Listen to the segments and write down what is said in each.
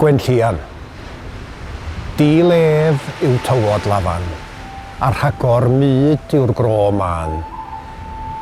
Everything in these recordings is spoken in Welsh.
Gwenllian. Di-lef yw tywod Lafan, a rhagor mud yw'r gro mân.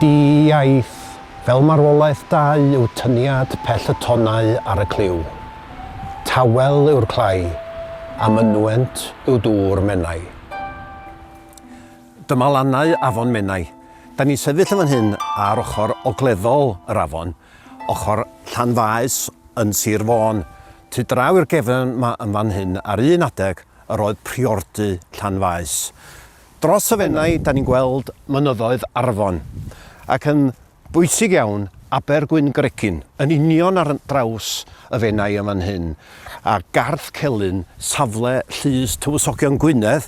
Di-iaith, fel marwolaeth dau yw tyniad pell y tonnau ar y clyw. Tawel yw'r clai, a mynwent yw dŵr Menai. Dyma lannau afon Menai. Da ni'n sefyll yn fan hyn ar ochr ogleddol yr afon. Ochr Llanfaes yn Sir Fôn. Tu draw i'r gefn 'ma yn fan hyn, ar un adeg, yr oedd priordy Llanfaes. Dros y Fenai, da ni'n gweld mynyddoedd Arfon, ac yn bwysig iawn, Aber Gwyn Gregin, yn union ar draws y Fenai yn fan hyn, a Garth Celyn, safle Llys Tywysogion Gwynedd,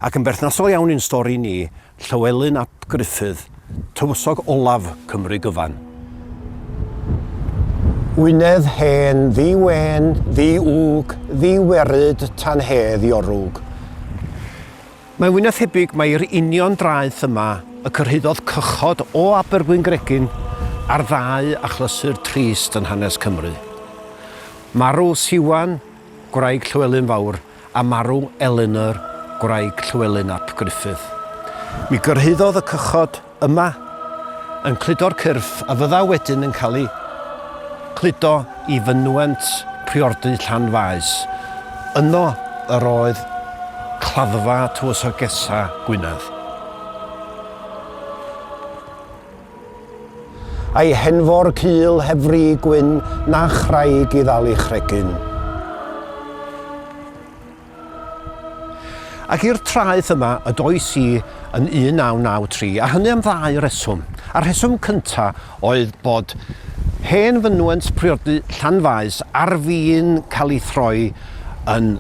ac yn berthnasol iawn i'n stori ni, Llywelyn ap Gruffudd, tywysog olaf Cymru gyfan. Wynedd hen, ddi wên, ddi wg, ddi weryd, tan hedd i orwg. Mae Wynedd thebyg mai yr union draeth yma y cyrhaeddodd cychod o Abergwyngregyn a'r ddau achlysur trist yn hanes Cymru. Marw Siwan, gwraig Llywelyn Fawr, a marw Elinor, gwraig Llywelyn ap Gruffudd. Mi gyrhaeddodd y cychod yma yn cludo'r cyrff a fydda wedyn yn cael ei cludo i fynwent priordy Llanfaes. Yno yr oedd claddfa Tywysogesa Gwynedd. A'i henfor cul heb fri gwyn na chraig i ddal ei chregyn. Ac i'r traeth yma y dois i yn 1993, a hynny am ddau reswm. A'r rheswm cynta oedd bod hen fynwent priodi Llanfaes ar fin cael ei throi yn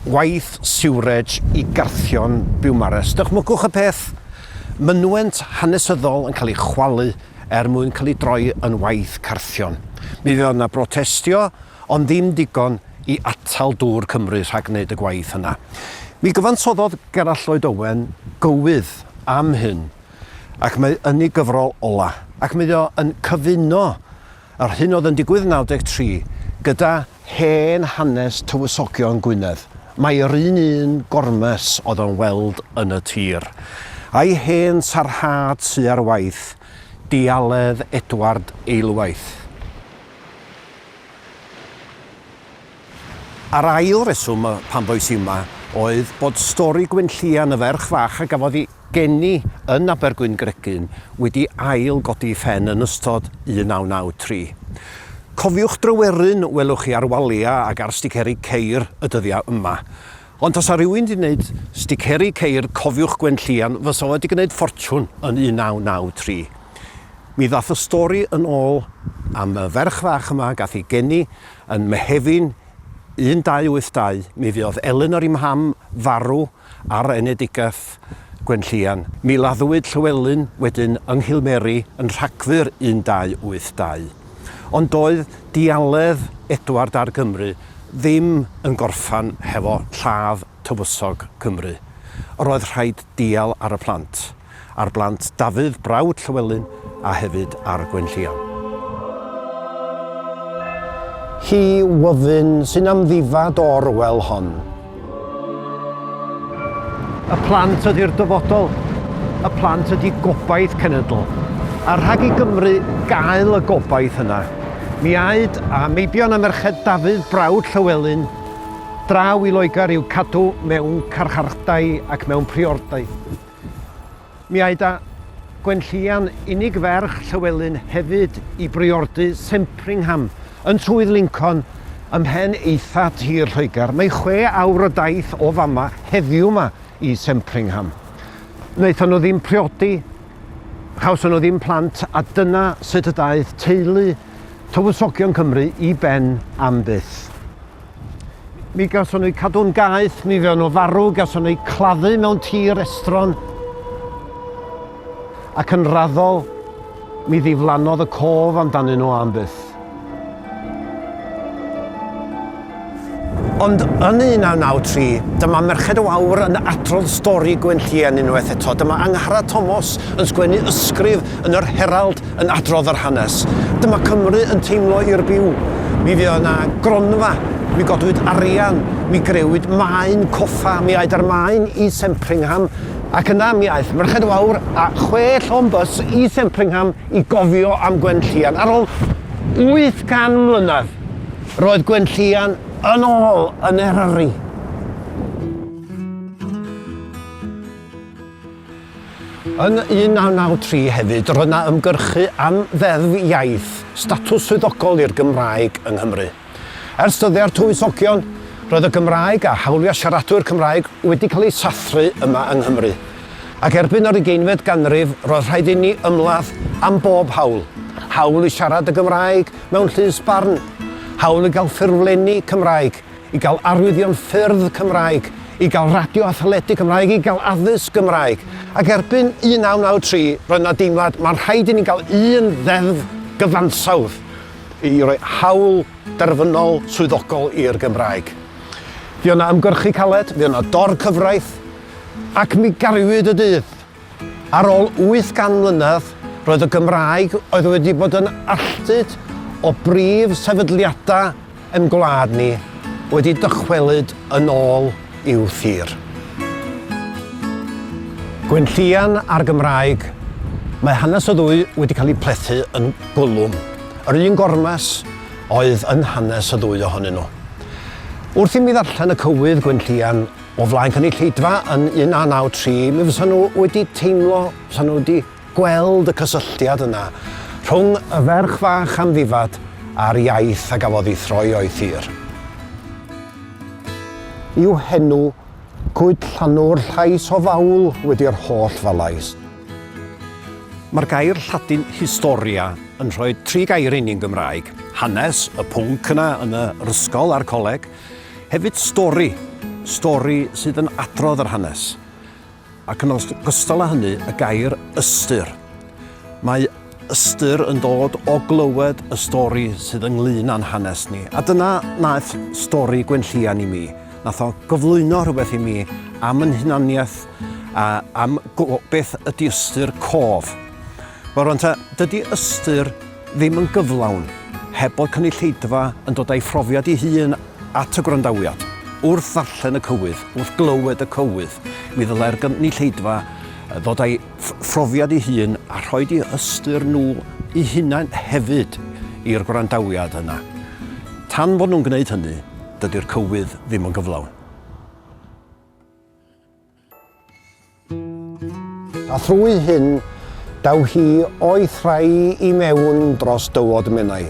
waith siwrej i garthion Biwmares. Dychmygwch y peth, Mynwent hanesyddol yn cael ei chwalu er mwyn cael ei droi yn waith carthion. Mi fuodd 'na brotestio, ond ddim digon i atal Dŵr Cymru rhag gwneud y gwaith yna. Mi gyfansoddodd Gerallt Lloyd Owen gywydd am hyn, ac mae yn ei gyfrol ola', ac mae o yn cyfuno Yr hyn oedd yn digwydd 93 gyda hen hanes tywysogion Gwynedd, mai'r un un gormes oedd o'n weld yn y tir, a'i hen sarhad sy ar waith, Dealedd Edward Eilwaith. A'r ail reswm pam bois i yma oedd bod stori Gwynllian, y ferch fach a gafodd ei geni yn Abergwyngregyn, wedi ail godi i phen yn ystod 1993. Cofiwch Dryweryn welwch chi ar waliau ac ar sticeri ceir y dyddiau yma. Ond tasa rhywun 'di wneud sticeri ceir Cofiwch Gwynllian fysa fo 'di gwneud ffortiwn yn 1993. Mi ddath y stori yn ôl am y ferch fach yma gath ei geni Yn Mehefin 1282 mi fuodd Elinor i Mham farw ar enedigaeth Gwenllian. Mi laddwyd Llywelyn wedyn yng Nghilmeri yn Rhagfyr 1282. Ond doedd dialedd Edward ar Gymru ddim yn gorffan hefo lladd tywysog Cymru. Yr oedd rhaid dial ar y plant. ar blant Dafydd, brawd Llywelyn, a hefyd ar Gwenllian. Hi wyddyn sy'n amddifad o Orwell hon. Y plant ydy'r dyfodol. Y plant ydy gobaith cenedl. A rhag i Gymru gael y gobaith yna, mi aed a meibion a merched Dafydd, brawd Llywelyn, draw i Loegr i'w cadw mewn carchardai ac mewn priordai. Mi aed â Gwenllian, unig ferch Llywelyn, hefyd i briordy Sempringham, yn Swydd Lincoln, ymhen eitha tir Lloegr. Mae chwe awr o daith o fama, heddiw 'ma, i Sempringham. Wnaethon nhw ddim priodi, chawson nhw ddim plant, a dyna sut y daeth teulu tywysogion Cymru i ben am byth. Mi gawson nhw cadw'n gaeth, mi fewn nhw farw, gawson nhw claddu mewn tir estron. Ac yn raddol, mi ddiflannodd y cof amdanyn nhw am byth. Ond yn 1993, dyma Merched o Awr yn adrodd stori Gwenllian unwaith eto. Dyma Angharad Tomos yn sgwennu ysgrif yn yr Herald yn adrodd yr hanes. Dyma Cymru yn teimlo i'r byw. Mi fuodd yna gronfa, mi godwyd arian, mi grewyd maen coffa, mi aed â'r maen i Sempringham, ac yna mi aeth Merched Wawr a chwe llon bys i Sempringham i gofio am Gwenllian. Ar ôl 800 mlynedd, roedd Gwenllian yn ôl yn Eryri. Yn 1993 hefyd roedd 'na ymgyrchu am Ddeddf Iaith, statws swyddogol i'r Gymraeg yng Nghymru. Ers dyddiau'r Tywysogion, roedd y Gymraeg a hawliau siaradwyr Cymraeg wedi cael eu sathru yma yng Nghymru. Ac erbyn yr ugeinfed ganrif roedd rhaid inni ymladd am bob hawl, hawl i siarad y Gymraeg mewn llys barn, hawl i gael ffurflenni Cymraeg, i gael arwyddion ffyrdd Cymraeg, i gael radio a theledu Cymraeg, i gael addysg Gymraeg. Ac erbyn 1993, roedd yna deimlad, mae'n rhaid i ni gael un ddeddf gyfansawdd i roi hawl derfynol swyddogol i'r Gymraeg. Fi o'na ymgyrchu caled, fi o'na dor cyfraith, ac mi gariwyd y dydd. Ar ôl 800 mlynedd, roedd y Gymraeg oedd wedi bod yn alltud o brif sefydliadau ein gwlad ni wedi dychwelyd yn ôl i'w thir. Gwenllian a'r Gymraeg, mae hanes y ddwy wedi cael eu plethu yn gwlwm. Yr un gormes oedd yn hanes y ddwy ohonyn nhw. Wrth i mi ddarllen y cywydd Gwenllian O flaen cynulleidfa yn 1993, mi fysa nhw wedi teimlo, fysa nhw wedi gweld y cysylltiad yna rhwng y ferch fach amddifad a'r iaith a gafodd ei throi o'i thir. I'w henw, Cwyd Llanw'r llais o fawl wedi'r holl falais. Mae'r gair Lladin historia yn rhoi tri gair i ni'n Gymraeg, hanes, y pwnc yna yn yr ysgol a'r coleg, Hefyd stori, stori sydd yn adrodd yr hanes, ac yn ogystal â hynny y gair ystyr. Mae ystyr yn dod o glywed y stori sydd ynglyn â'n hanes ni, a dyna naeth stori Gwenllian i mi. Nath o gyflwyno rhywbeth i mi am yn hunaniaeth a am beth ydy ystyr cof. Wel rwan ta, dydy ystyr ddim yn gyflawn heb bod cynulleidfa yn dod a'i phrofiad ei hun at y gwrandawiad. Wrth ddarllen y cywydd, wrth glywed y cywydd, mi ddylai'r gynulleidfa ddod a'i phrofiad ei hun a rhoid eu hystyr nhw eu hunain hefyd i'r gwrandawiad yna. Tan fod nhw'n gwneud hynny, dydy'r cywydd ddim yn gyflawn. A thrwy hyn, daw hi o'i thrai i mewn dros dywod Menai.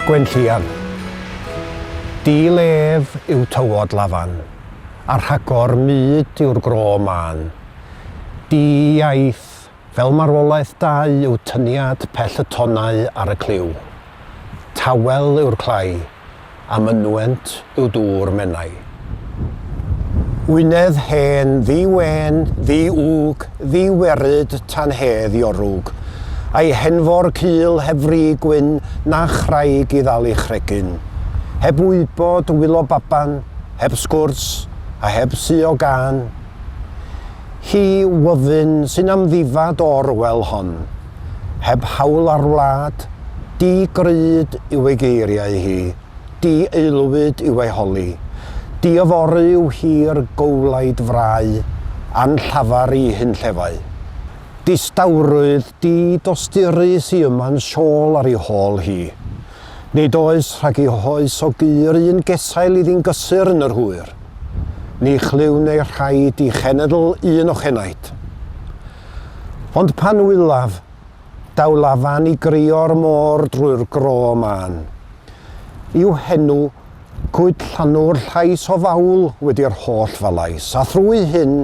Gwenllian. Dil ef yw tywod Lafan, a rhagor mud yw'r gro mân. Di iaith Fel marwolaeth da yw tyniad pell y tonnau ar y cliw. Tawel yw'r clai, a mynwent yw dŵr Menai. Wynedd hen, ddu wên, ddu ŵg, ddu weryd, tan hedd i orwg. A'i henfor cul heb fri gwyn na chraig i ddal ei chregyn. Heb wybod, wylo baban, heb sgwrs, a heb suo gân. Hi yw Wyddyn sy'n amddifad o Orwell hon. Heb hawl ar wlad, di gryd yw ei geiriau hi, di aelwyd yw ei holi, di yfory yw hi'r gowlaid frau a'n llafar i hunllefau. Distawrwydd di dosturus i yma'n siôl ar ei hôl hi. Nid oes rhag i hoes o gu yr un gesail iddi'n gysur yn yr hwyr. Ni chlywn ei rhaid i chenedl un ochenaid. Ond pan wylaf, daw lafan i grio'r môr drwy'r gro mân. I'w henw, cwyd llanw'r llais o fawl wedi'r holl falais, a thrwy hyn,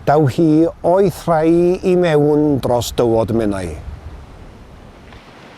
daw hi o'i thrai i mewn dros dywod Menai.